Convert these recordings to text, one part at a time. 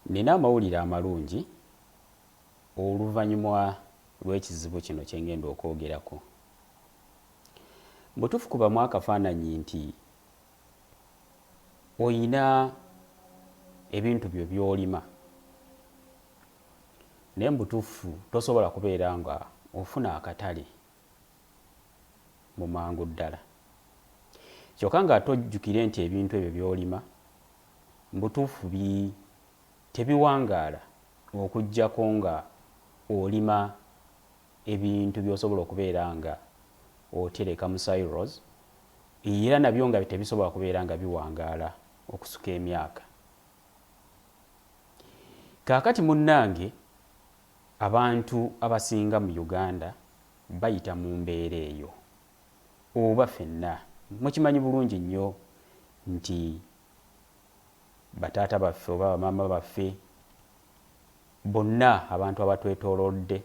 Nina amawulire amalungi oluvanyumwa lw'ekizibu kino kyengenda okwogerako. Mubutufu kubamu akafananyi nti oyina ebintu byo byolima naye mubutufu tosobola kubeera nga ofuna akatale. mu mangu ddala. Kyokka ng'ate ojjukire nti ebintu ebyo by'olima mu butuufu bi tebiwangaala okuggyako ng'olima ebintu by'osobola okubeera ng'otereka mu silos era nabyo nga tebisobola kubeera nga biwangaala okusuka emyaka. Kaakati munnange. Abantu abasinga mu Uganda bayita mu mbeera eyo oba fenna mukimanyi bulungi nnyo nti ba taata baffe oba ba maama baffe bonna abantu abatwetolodde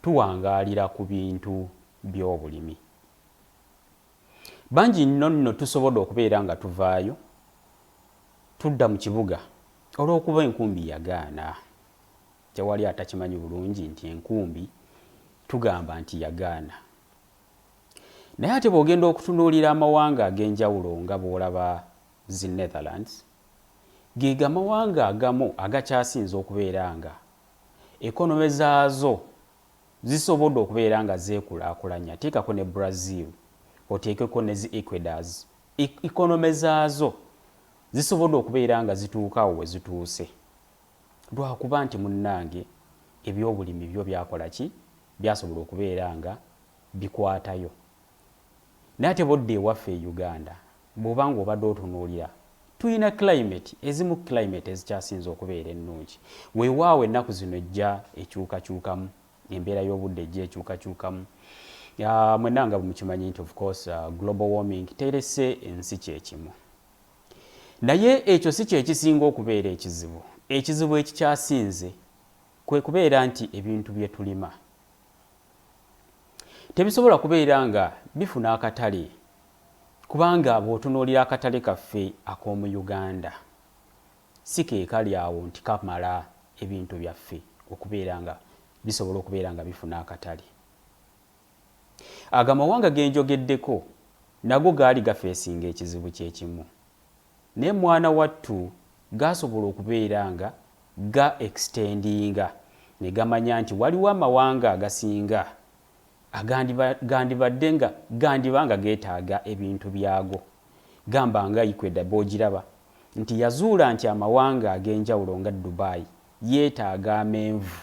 tuwangaalira ku bintu by'obulimi. Bangi nno nno tusobode okubeera nga tuvaayo tudda mu kibuga olw'okuba enkumbi yagaana. Tewali atakimanyi bulungi nti enkumbi tugamba nti yagaana. Naye ate bw'ogenda okutunuulira amawanga ag'enjawulo nga bw'olaba zi Netherlands, ge gamawanga agamu agakyasinze okubeera nga ekonome zaazo Zisobodde okubeera nga zeekulaakulanya, teekako ne Brazil, oteekeko ne zi Equadors, economy zaazo zisobodde okubeera nga zituuka awo we zituuse lwakuba nti munnange ebyobulimi byo byakola ki? Byasobola okubeera nga bikwatayo Naye ate bodda ewaffe e Uganda bwoba nga obadde otunuulira tuyina climate ezimu climate ezikyasinze okubeera ennungi. Wewaawo ennaku zino ejja ekyukakyukamu, embeera y'obudde ejja ekyukakyukamu. Mwenna nga bwemukimanyi nti of course global warming terese ensi kyekimu. Naye ekyo si kyekisinga okubeera ekizibu. Ekizibu ekikyasinze kwekubeera nti ebintu byetulima. Tebisobola kubeera nga bifuna akatale kubanga bw'otunuulira akatale kaffe ak'omu Uganda si ke kali awo nti kamala ebintu byaffe okubeera nga bisobola okubeera nga bifuna akatale. Ago amawanga ge njogeddeko nago gaali gafeesinga ekizibu kye kimu. Naye mwana wattu gaasobola okubeera nga ga extendinga ne gamanya nti waliwo amawanga agasinga agandiba, gandibadde nga, gandiba nga geetaaga ebintu byago. Gamba nga Ecuador b'ogiraba, nti yazuula nti amawanga ag'enjawulo nga Dubai yeetaaga amenvu.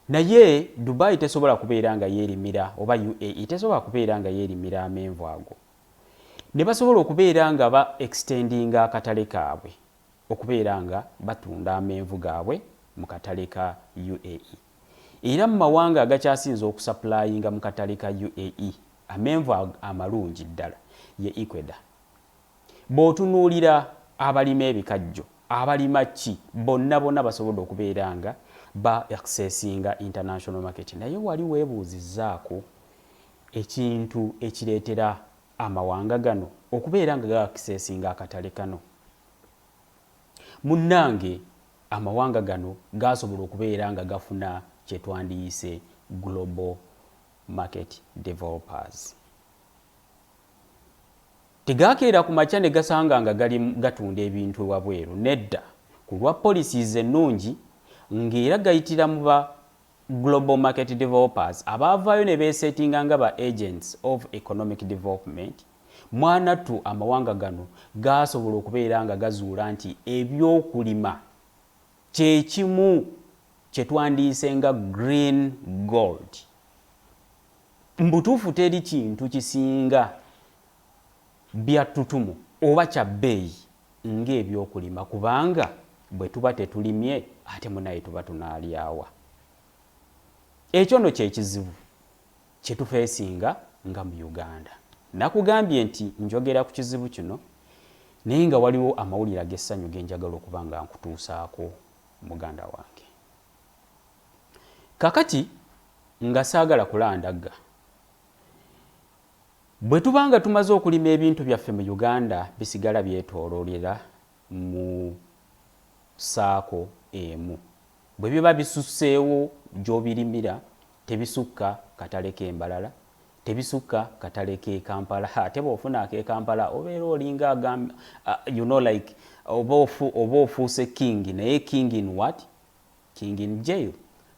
Naye Dubai tesobola kubeera nga yeerimira, oba UAE tesobola kubeera nga yeerimira amenvu ago. ne basobola okubeera nga ba extendinga akatale kaabwe okubeera nga batunda amenvu gaabwe mu katale ka UAE era mu mawanga agakyasinze okusapulayinga mu katale ka UAE amenvu amalungi ddala ye Ecuador. Bw'otunuulira abalima ebikajjo, abalima ki, bonna bona basobodde okubeera nga ba accessinga international market naye wali weebuuzizzaako ekintu ekireetera amawanga gano okubeera nga gaakiseesinga akatale kano. Munnange amawanga gano gaasobola okubeera nga gafuna kye twandiyise global market developers. Tegaakeera ku makya ne gasanga nga gali gatunda ebintu ewabweru, nedda, ku lwa policies ennungi ng'era gayitira mu ba Global Market Developers abaavaayo ne beesetinga nga ba Agents of Economic Development, mwanattu amawanga gano gaasobola okubeera nga gazuula nti eby'okulima kye kimu kye twandiyise nga Green Gold. Mu butuufu teri kintu kisinga bya ttutumu oba kya bbeeyi ng'ebyokulima kubanga bwe tuba tetulimye ate munaye tuba tunaalya wa? Ekyo no kye kizibu kye tufeesinga nga mu Uganda. Nakugambye nti njogera ku kizibu kino naye nga waliwo amawulire ag'essanyu ge njagala okuba nga nkutuusaako muganda wange. Kakati nga saagala kulandagga. Bwe tuba nga tumaze okulima ebintu byaffe mu Uganda bisigala byetooloolera mu saako emu. Bwe biba bisusseewo gy'obirimira tebisukka katale k'e Mbarara, tebisukka katale k'e Kampala ate bw'ofuna ak'e Kampala obeera olinga agamba you know like oba ofuuse king naye king in what? King in jail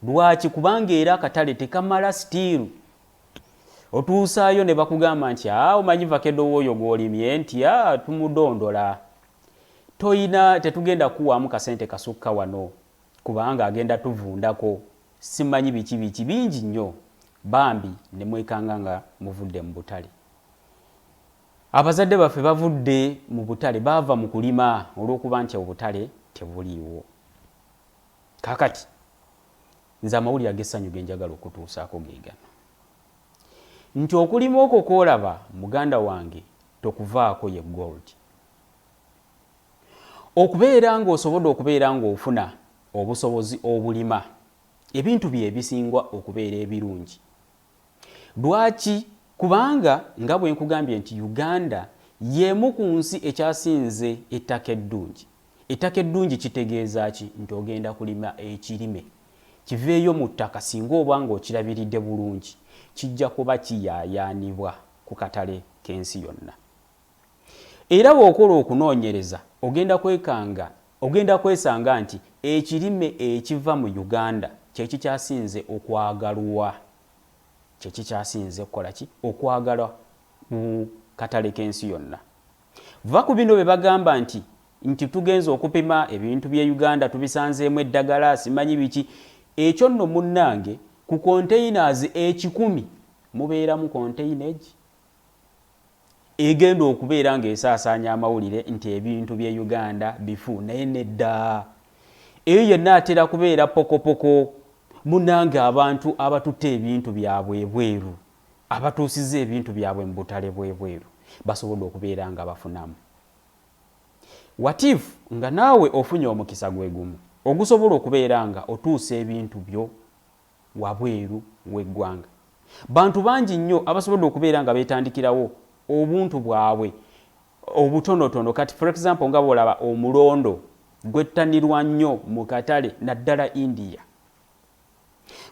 lwaki kubanga era akatale tekamala still otuusaayo nebakugamba nti a ah, omanyi vakedo wooyo gwolimye nti a ah, tumudondola toyina tetugenda kuwaamu kasente kasukka wano kubanga agenda tuvundako simanyi biki biki bingi nnyo bambi nemwekanga nga muvudde mu butale abazadde baffe bavudde mu butale baava mu kulima olw'okuba nti obutale tebuliiwo Kaakati, nze amawulire ag'essanyu ge njagala okutuusaako ge gano nti, okulima okwo kw'olaba, muganda wange, tokuvaako, ye gold. Okubeera nga osobodde okubeera nga ofuna obusobozi obulima ebintu bye ebisinga okubeera ebirungi Lwaki? Kubanga nga bwe nkugambye nti Uganda y'emu ku nsi ekyasinze ettaka eddungi. Ettaka eddungi kitegeeza ki? Nti ogenda kulima ekirime kiveeyo mu ttaka singa oba ng'okirabiridde bulungi kijja kuba kiyaayaanibwa ku katale k'ensi yonna. Era bw'okola okunoonyereza ogenda kwekanga ogenda kwesanga nti ekirime ekiva mu Uganda kye kikyasinze okwagalwa kye kikyasinze okukola ki? okwagalwa ku katale k'ensi yonna. Vva ku bino bye bagamba nti nti tugenze okupima ebintu by'e Uganda tubisanzeemu eddagala simanyi biki ekyo nno munnange ku containers ekikumi mubeeramu container egi egenda okubeera ng'esaasaanya amawulire nti ebintu by'e Uganda bifu naye nedda. Eyo yenna atera kubeera pokopoko munnange abantu abatutte ebintu byabwe ebweru abatuusizza ebintu byabwe mu butale bw'ebweru basobodde okubeera nga bafunamu. Watif nga naawe ofunye omukisa gwe gumu ogusobola okubeera nga otuusa ebintu byo wabweru w'eggwanga. Bantu bangi nnyo abasobodde okubeera nga beetandikirawo obuntu bwabwe obutonotono kati for example nga bw'olaba omulondo gwettanirwa nnyo mu katale naddala India,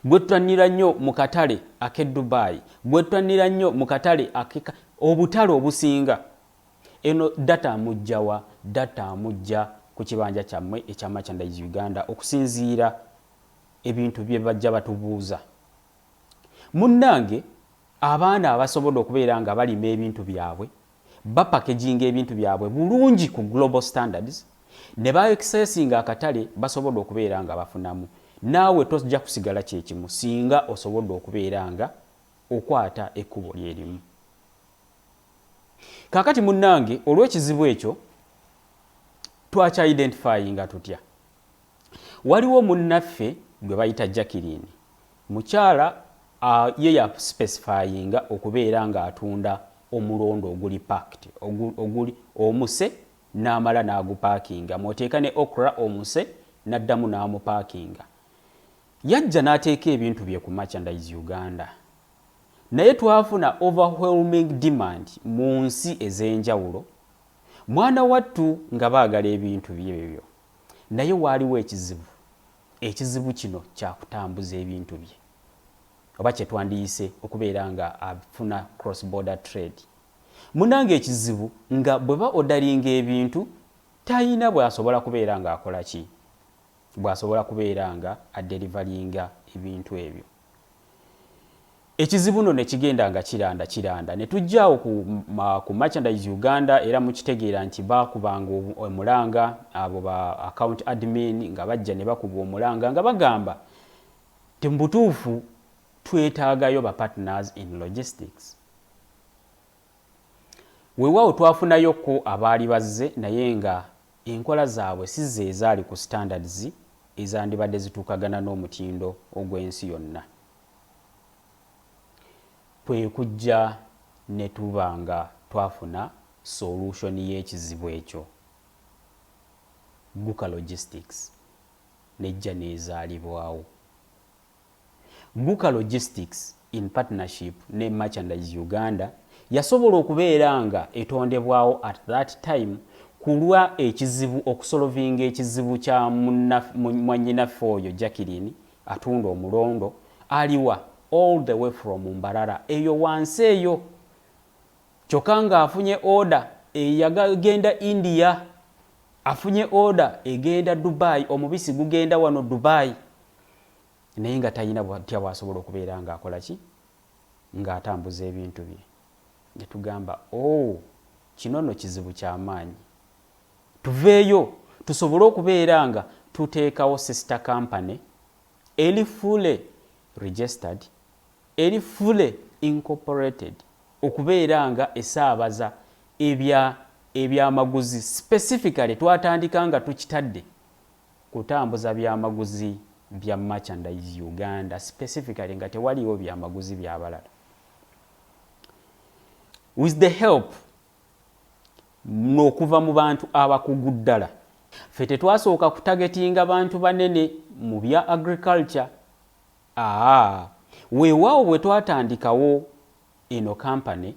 gwettanira nnyo mu katale ak'e Dubai, gwettanira nnyo mu katale ak'e obutale obusinga. Eno data amuggya wa? Data amuggya ku kibanja kyammwe ekya Merchandise Uganda okusinziira ebintu bye bajja batubuuza. Munnange abaana abasobodde okubeera nga balima ebintu byabwe, bapakeginga ebintu byabwe bulungi ku global standards, ne ba accesinga akatale basobodde okubeera nga bafunamu. Naawe tojja kusigala kye kimu singa osobodde okubeera nga okwata ekkubo lye limu. Kaakati munnange olw'ekizibu ekyo twakya identifyinga tutya? Waliwo munnaffe gwe bayita Jacqueline, mukyala a ye ya sipesifayinga okubeera ng'atunda omulondo oguli packed, ogu, oguli omuse n'amala n'agupaakinga mw'oteeka ne okra omuse n'addamu n'amupaakinga. Yajja n'ateeka ebintu bye ku Merchandise Uganda naye twafuna overwhelming demand mu nsi ez'enjawulo mwana wattu nga baagala ebintu bye ebyo. Naye waaliwo ekizibu. Ekizibu kino kya kutambuza ebintu bye oba kye twandiyise okubeera nga afuna cross border trade. Munnange ekizibu nga bwe ba odaringa ebintu talina bw'asobola kubeera ng'akola ki? Bw'asobola kubeera nga aderivalinga ebintu ebyo. Ekizibu no nekigenda nga kiranda kiranda netujja awo ku, ku merchandise Uganda era mukitegeera nti baakubanga omulanga abo ba account admin nga bajja nebakuba omulanga nga bagamba nti mubutuufu twetaagayo ba partners in logistics. Wewaawo twafunayo ko abaali bazze naye nga Enkola zaabwe si ze ezaali ku standards ezandibadde zituukagana n'omutindo ogw'ensi yonna. Kwe kujja ne tuba nga twafuna solution y'ekizibu ekyo, Guka Logistics n'ejja n'ezaalibwawo. Guka Logistics in partnership ne Merchandise Uganda yasobola okubeera nga etondebwawo at that time kulwa ekizibu okusolovinga ekizibu kya mwanyinaffe oyo Jacqueline atunda omulondo aliwa all the way from Mbarara eyo wansi eyo kyoka nga afunye order eyagenda India afunye order egenda Dubai omubisi gugenda wano Dubai naye nga talina bwatya bwasobola okubeera nga akola ki nga atambuza ebintu bye netugamba o oh, kino no kizibu kyamaanyi tuveeyo tusobole okubeera nga tuteekawo sister company eri fully registered eri fully incorporated okubeera nga esaabaza ebya ebyamaguzi specifically twatandika nga tukitadde kutambuza byamaguzi bya merchandise Uganda specifically nga tewaliiwo byamaguzi byabalala with the help nokuva mu bantu abakugu ddala ffe tetwasooka kutagetinga bantu banene mu bya agriculture aa weewaawo bwe twatandikawo eno kampani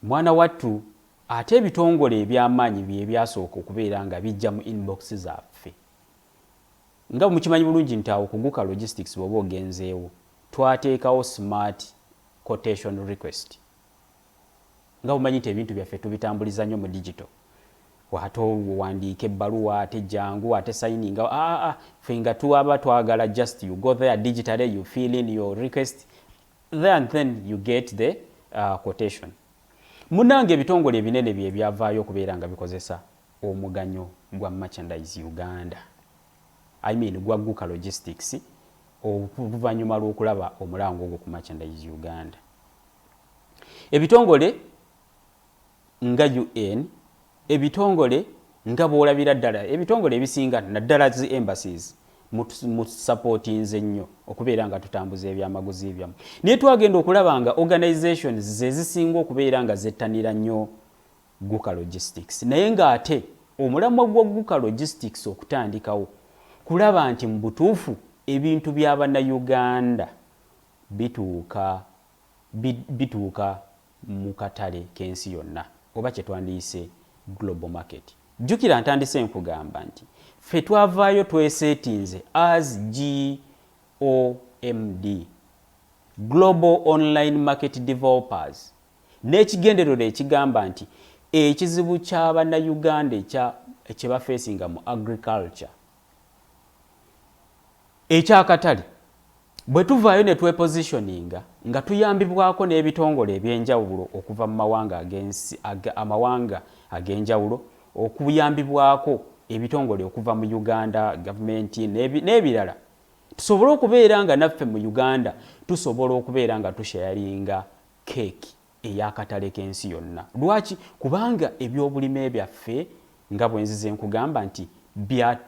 Mwana wattu ate ebitongole eby'amaanyi byebyasooka okubeera nga bijja mu inbox zaffe. Nga bwemukimanyi bulungi nti awo ku Guka Logistics bwoba ogenzeewo, twateekawo smart quotation request. Nga bwemumanyi nti ebintu byaffe tubitambuliza nnyo mu digital, ate owandiika ebbaluwa ate jangu ate sayininga aah, ffe nga twaba twagala just you go there digitally you fill in your request, there and then you get the uh, quotation munange ebitongole ebinene bye byavaayo okubeera nga bikozesa omuganyo gwa merchandise uganda i mean gwa guka logistics oluvannyuma lw'okulaba omulango ogwo ku merchandise uganda ebitongole nga UN, ebitongole nga bwolabira ddala ebitongole ebisinga naddala zi embassies mu supportinze nnyo okubeera nga tutambuza ebyamaguzi byammwe naye twagenda okulaba nga organizations zezisinga okubeera nga zettanira nnyo guka logistics naye ng'ate omulamwa gwa guka logistics okutandikawo kulaba nti mu butuufu ebintu bya bannayuganda bituuka bituuka mu katale k'ensi yonna oba kye twandiyise Global Market. Jjukira ntandise nkugamba nti ffe twavaayo tweseetinze as GOMD, Global Online Market Developers, n'ekigendererwa ekigamba nti ekizibu kya Bannayuganda ekya kye bafeesinga mu agriculture ekyakatale bwe tuvaayo ne twepositioninga nga tuyambibwako n'ebitongole eby'enjawulo okuva mu mawanga ag'ensi amawanga ag'enjawulo okuyambibwako ebitongole okuva mu Uganda gavumenti n'ebirala tusobole okubeera nga naffe mu Uganda tusobola okubeera nga tushayaringa keeki. ey'akatale k'ensi yonna. Lwaki? Kubanga ebyobulime byaffe nga bwe nzize nkugamba nti bya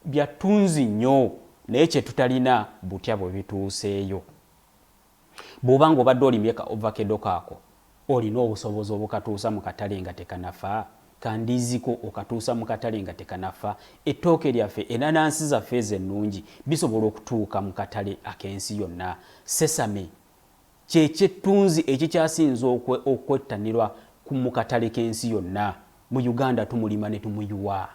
bya ttunzi nnyo naye kye tutalina butya bwe bituuseeyo. Bw'oba ng'obadde olimye ka ovakedo kaako, olina obusobozi obukatuusa mu katale nga tekanafa? Ka ndiizi ko okatuusa mu katale nga tekanafa? Ettooke lyaffe, enanansi zaffe ezo ennungi bisobola okutuuka mu katale ak'ensi yonna? Sesame, kye ky'ettunzi ekikyasinze okwettanirwa ku mu katale k'ensi yonna. Mu Uganda tumulima ne tumuyiwa.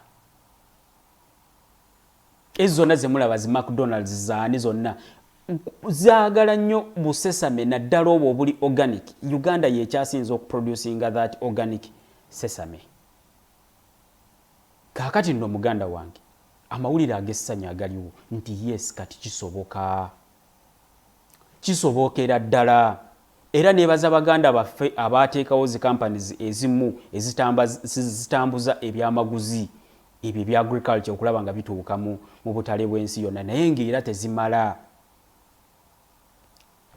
Ezo zonna ze mulaba zi McDonald's zaani zonna zaagala nnyo busesame naddala obwo obuli organic. Uganda y'ekyasinze okuproducinga that organic sesame. Kaakati nno muganda wange amawulire ag'essanyu agaliwo nti yes kati kisoboka. Kisobookera ddala. Era nebaza baganda baffe abaateekawo zi companies ezimu ezitambazitambuza ebyamaguzi ebyo ebya agriculture okulaba nga bituuka mu mubutale bwensi yonna naye nga era tezimala.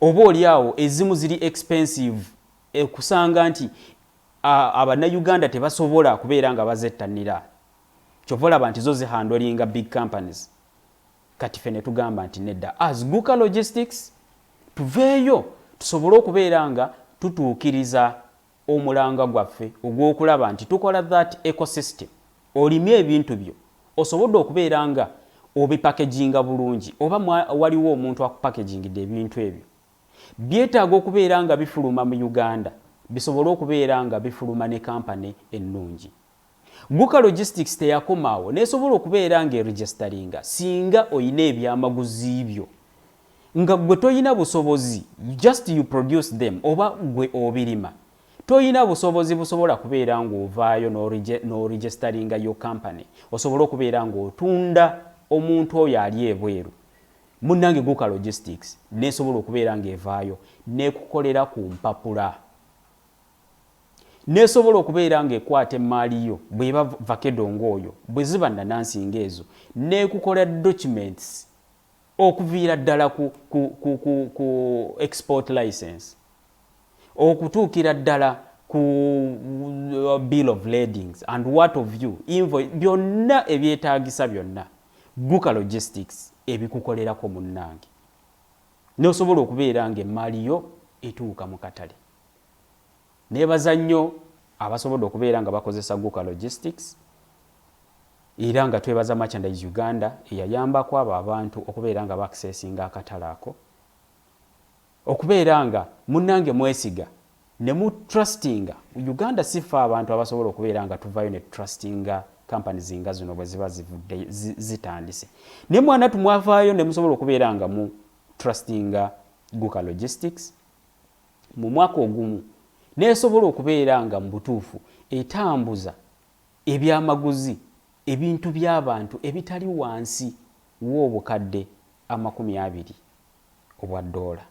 Oba oli awo ezimu ziri expensive ekusanga nti abana Uganda tebasobola kubeera nga bazettanira. Kyova olaba nti zo zihandolinga big companies kati fe netugamba nti nedda as guka logistics tuveeyo tusobole okubeera nga tutuukiriza omulanga gwaffe ogw'okulaba nti tukola that ecosystem olimye ebintu byo osobodde okubeera nga obipakeginga bulungi oba waliwo omuntu akupakegingidde ebintu ebyo byetaaga okubeera nga bifuluma mu uganda bisobole okubeera nga bifuluma ne kampani ennungi Guka Logistics teyakoma awo n'esobola okubeera ng'eregisitalinga singa olina ebyamaguzi byo nga ggwe tolina busobozi just you produce them oba ggwe obirima tolina busobozi busobola kubeera ng'ovaayo n'oregisitalinga your company osobole okubeera ng'otunda omuntu oyo ali ebweru munnange Guka Logistics n'esobola okubeera ng'evaayo n'ekukolera ku mpapula. n'esobola okubeera ng'ekwata emmaali yo bw'eba vakedo ng'oyo, bwe ziba nnanansi ng'ezo, n'ekukola documents okuviira ddala ku, ku, ku, ku, ku export license okutuukira ddala ku uh, bill of ladings and what of you invoice byonna ebyetaagisa byonna guka logistics ebikukolerako munnange n'osobola okubeera ng'emmaali yo etuuka mu katale. Neebaza nnyo abasobodde okubeera nga bakozesa Guka Logistics era nga twebaza Merchandise Uganda eyayambako abo abantu okubeera nga baakiseesinga akatale ako. Okubeera nga munnange mwesiga ne mu trustinga, Uganda si ffe abantu abasobola okubeera nga tuvaayo ne tutrustinga companies nga zino bwe ziba zivudde zitandise. Naye mwanattu mwavaayo ne musobola okubeera nga mu trustinga Guka Logistics. mu mwaka ogumu n'esobola okubeera nga mu butuufu etambuza ebyamaguzi ebintu by'abantu ebitali wansi w'obukadde amakumi abiri obwa ddoola.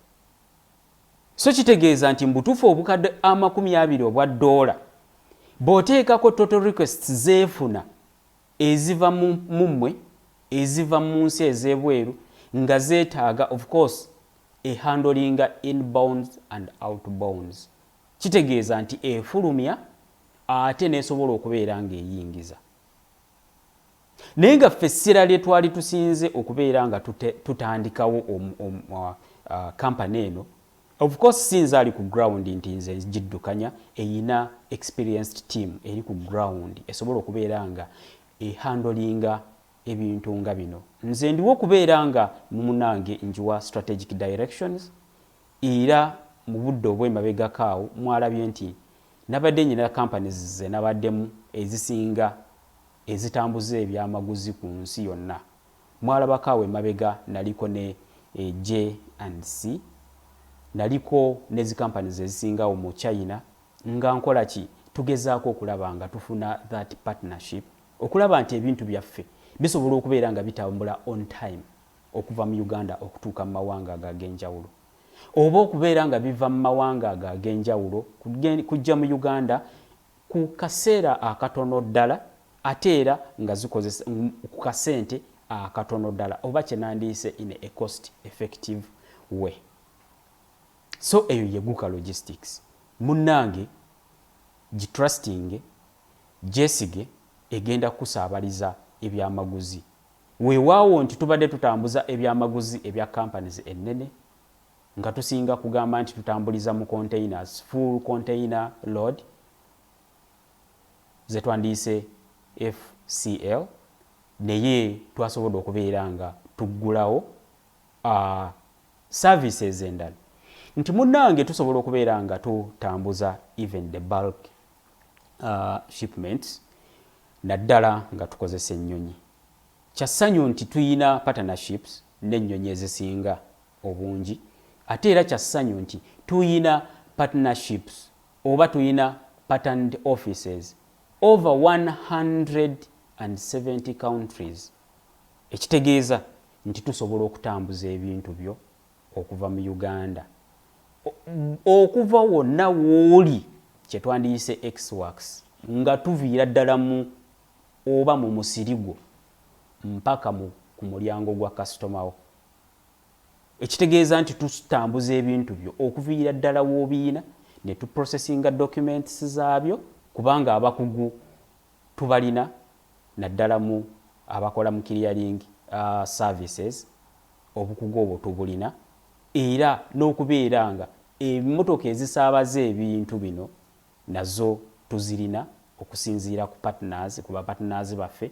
So kitegeeza nti mu butuufu obukadde amakumi abiri obwa ddoola bw'oteekako total requests zeefuna eziva mu mmwe eziva mu nsi ez'ebweru nga zeetaaga of course e handlinga inbounds and outbounds kitegeeza nti efulumya ate n'esobola okubeera ng'eyingiza. Naye nga ffe essira lye twali tusinze okubeera nga tutandikawo kampani uh, uh, eno of course si nze ali ku ground nti nze ngiddukanya eyina experienced team eri ku ground esobola okubeera nga ehandolinga ebintu nga bino nze ndiwo kubeera nga mumunange njiwa strategic directions era mubudde obwemabegako awo mwalabye nti nabadde nyina companies zenabaddemu ezisinga ezitambuza ebyamaguzi kunsi yonna mwalabako awo emabega naliko ne J and C naliko nezi companies ezisinga awo mu China nga nkolaki tugezaako okulaba nga tufuna that partnership okulaba nti ebintu byaffe bisobola okubeera nga bitambula on time okuva mu Uganda okutuuka mu mawanga ago ag'enjawulo oba okubeera nga biva mu mawanga ago ag'enjawulo kujja mu Uganda ku kaseera akatono ddala ate era nga zikozesa ku kasente akatono ddala oba kye nandiyise in a cost effective way so eyo yeguka logistics munnange gitrustinge gyesige egenda kukusaabaliza ebyamaguzi. Wewaawo nti tubadde tutambuza ebyamaguzi ebya companies ennene nga tusinga kugamba nti tutambuliza mu containers, full container load zetwandiyise FCL, naye twasobodde okubeera nga tuggulawo services endala nti munange tusobola okubeera nga tutambuza even the bulk uh, shipments naddala nga tukozesa ennyonyi kya ssanyu nti tuyina partnerships n'ennyonyi ezisinga obungi ate era kya ssanyu nti tuyina partnerships oba tuyina patterned offices over 170 countries ekitegeeza nti tusobola okutambuza ebintu byo okuva mu Uganda, o, okuva wonna w'oli, kye twandiyise X-Works, nga tuviira ddala mu oba mu musiri gwo mpaka mu, ku mulyango gwa kasitoma wo. Ekitegeeza nti tutambuza ebintu byo okuviira ddala w'obiyina, ne tu processinga documents zaabyo, kubanga abakugu tubalina naddala mu abakola mu clearing, uh, services. Obukugu obwo tubulina era n'okubeera nga emotoka ezisaabaza ebintu bino nazo tuzirina okusinziira ku partners, ku ba partners baffe.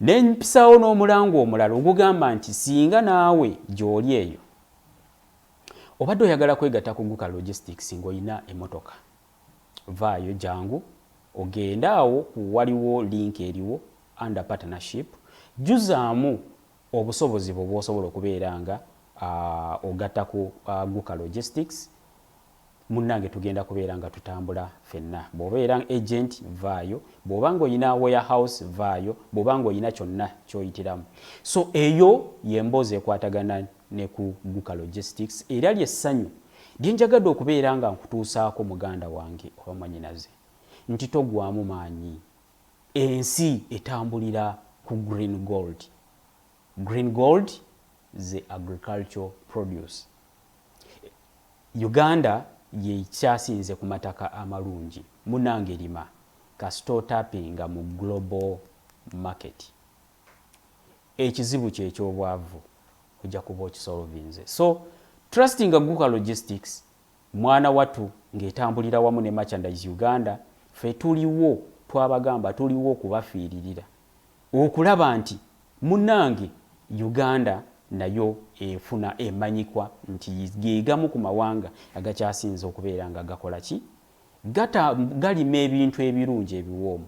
Ne mpisaawo n'omulango omulala ogugamba nti singa naawe gy'oli eyo obadde oyagala kwegatta ku Guka Logistics ng'olina emotoka, vvaayo jangu ogende awo waliwo link eriwo under partnership, jjuzaamu Obusobozi bwo bwosobola okubeera nga ogatta ku Aguka Logistics, munnange tugenda kubeera nga tutambula ffenna. Bw'obeera agent, vvaayo. Bw'oba ng'olina warehouse, vvaayo. Bw'oba ng'olina kyonna ky'oyitiramu. So eyo y'emboozi ekwatagana ne ku Guka Logistics era lye ssanyu lye njagadde okubeera nga nkutuusaako muganda wange oba mwannyinaze nti togwamu maanyi. Ensi etambulira ku green gold. Green gold ze agricultural produce. Uganda yekyasinze kumataka amalungi. Munange lima kasita otapinga mu global market. Ekizibu kyo ekyobwavu oja kuba okisolvinze. So trustinga Guka logistics Mwana watu nga etambulira wamu ne merchandise Uganda ffe tuliwo twabagamba tuliwo okubafiiririra okulaba nti munange Uganda nayo efuna emanyikwa nti gegamu ku mawanga agakyasinze okubeera nga gakola ki gata galima ebintu ebirungi ebiwoomu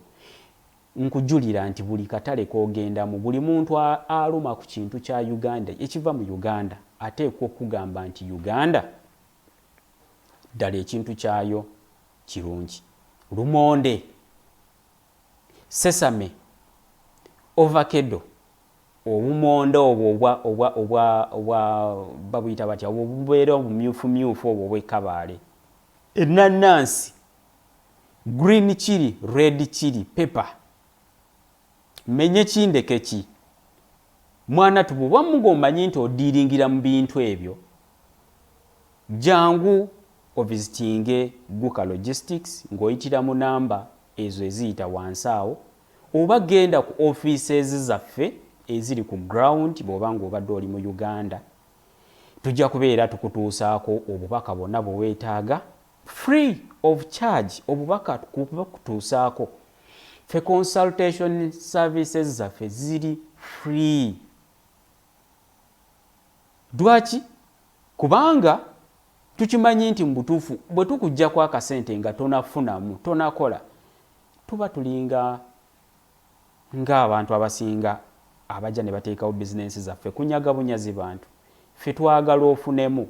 Nkujulira nti buli katale k'ogendamu, buli muntu aluma ku kintu kya Uganda, ekiva mu Uganda, ateekwa okukugamba nti Uganda ddala ekintu kyayo kirungi. Lumonde, sesame, ovakedo, obumonde obwo obwa, obwa, obwa, obwa, babuyita batya, obwo obubeera obumyufumyufu obwo obw'e Kabaale, ennannaansi, Green chili, red chili, pepper. Menye ki ndeke ki. Mwana tu bwoba mugo omanyi nti odiringira mu bintu ebyo jangu ovizitinge Guka Logistics ng'oyitira mu namba ezo eziyita wansi awo oba genda ku offices zaffe eziri ku ground bwoba ng'obadde oli mu Uganda tujja kubeera tukutuusaako obubaka bwonna bwe weetaaga Free of charge obubaka kubakutuusaako. Ffe consultation services zaffe ziri free. Dwaki? Kubanga tukimanyi nti mu butuufu bwe tukujjako akasente nga tonafunamu tonakola tuba tulinga ng'abantu abasinga abajja ne bateekawo bizinensi zaffe kunyaga bunyazi bantu. Ffe twagala ofunemu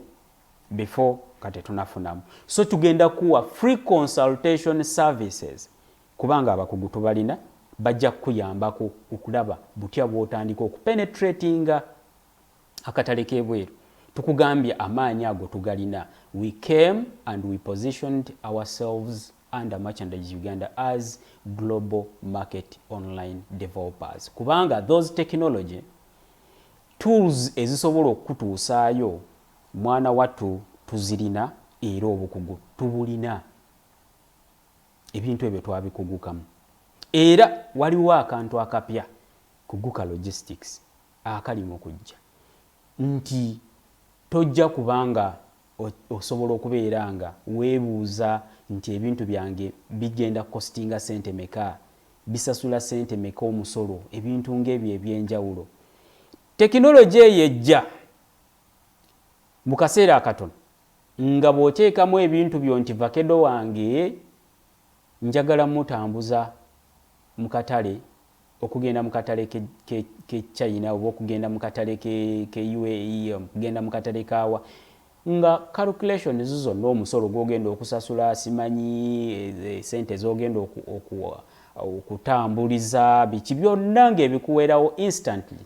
before nga tetunafunamu so tugenda kuwa free consultation services kubanga abakugu tubalina bajja kukuyambako okulaba butya bwotandika okupenetratinga akatale kebweru tukugambye amaanyi ago tugalina we came and we positioned ourselves under merchandise uganda as global market online developers kubanga those technology tools ezisobola okukutuusaayo Mwana wattu tuzirina era obukugu tubulina. Ebintu ebyo twabikugukamu. Era waliwo akantu akapya, kuguka logistics, akali mu kujja nti tojja kuba nga osobola okubeera nga weebuuza nti ebintu byange bigenda kukositinga ssente meka, bisasula ssente meka omusolo, ebintu ng'ebyo eby'enjawulo. Tekinologi eyo ejja Mu kaseera akatono nga bw'oteekamu ebintu byo nti vakedo wange njagala mmutambuza mu katale okugenda mu katale k'e China oba okugenda mu katale k'e UAE, okugenda mu katale kaawa nga calculations zonna omusolo gw'ogenda okusasula simanyi eh, sente z'ogenda okutambuliza biki byonna ng'ebikuwerawo instantly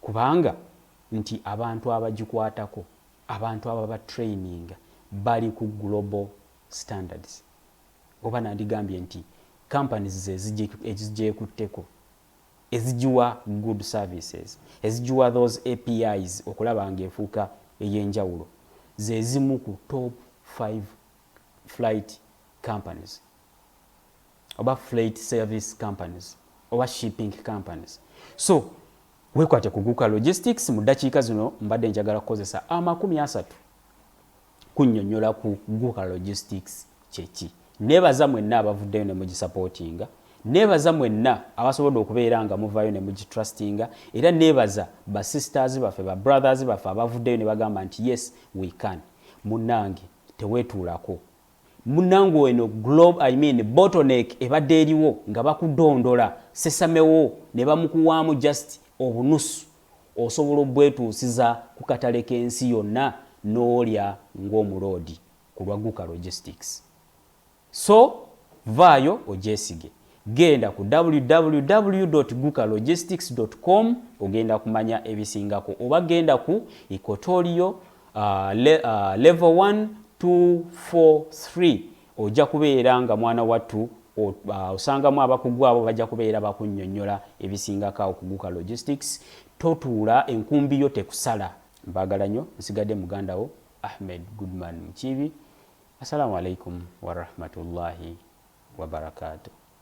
kubanga nti abantu abagikwatako, abantu ababa traininga bali ku global standards oba nandigambye nti companies ze ezigyekutteko, ezigiwa good services, ezigiwa those APIs okulaba nga efuuka eyenjawulo zezimu ku top five flight companies. oba flight service companies oba shipping companies so wekwate kuguka logistics mu ddakiika zino mbadde njagala kukozesa amakumi asatu kunyonyola ku guka logistics kyeki nebaza mwenna abavuddeyo ne mugisapootinga nebaza mwenna abasobodde okubeera nga muvayo ne mugitrustinga era nebaza ba sisters baffe ba brothers baffe abavuddeyo ne bagamba nti yes we can munange tewetuulako Munange eno glob I mean bottleneck ebadde eriwo nga bakudondola sesame wo nebamukuwaamu just obunusu osobola obwetuusiza kukatale kensi yonna nolya ngomuloodi kulwa Guka logistics so vaayo ogyesige. Genda ku www.gukalogistics.com ogenda kumanya ebisingako oba genda ku Equatorial uh, le, uh, level 1 2 4 3 ojja kubeera nga mwana wattu uh, osangamu abakugu abo bajja kubeera bakunnyonnyola ebisingako awo ku Guka Logistics totuula enkumbi yo tekusala mbaagala nnyo nsigadde muganda wo Ahmed Goodman Mukiibi Assalamu alaikum warahmatullahi wabarakatuh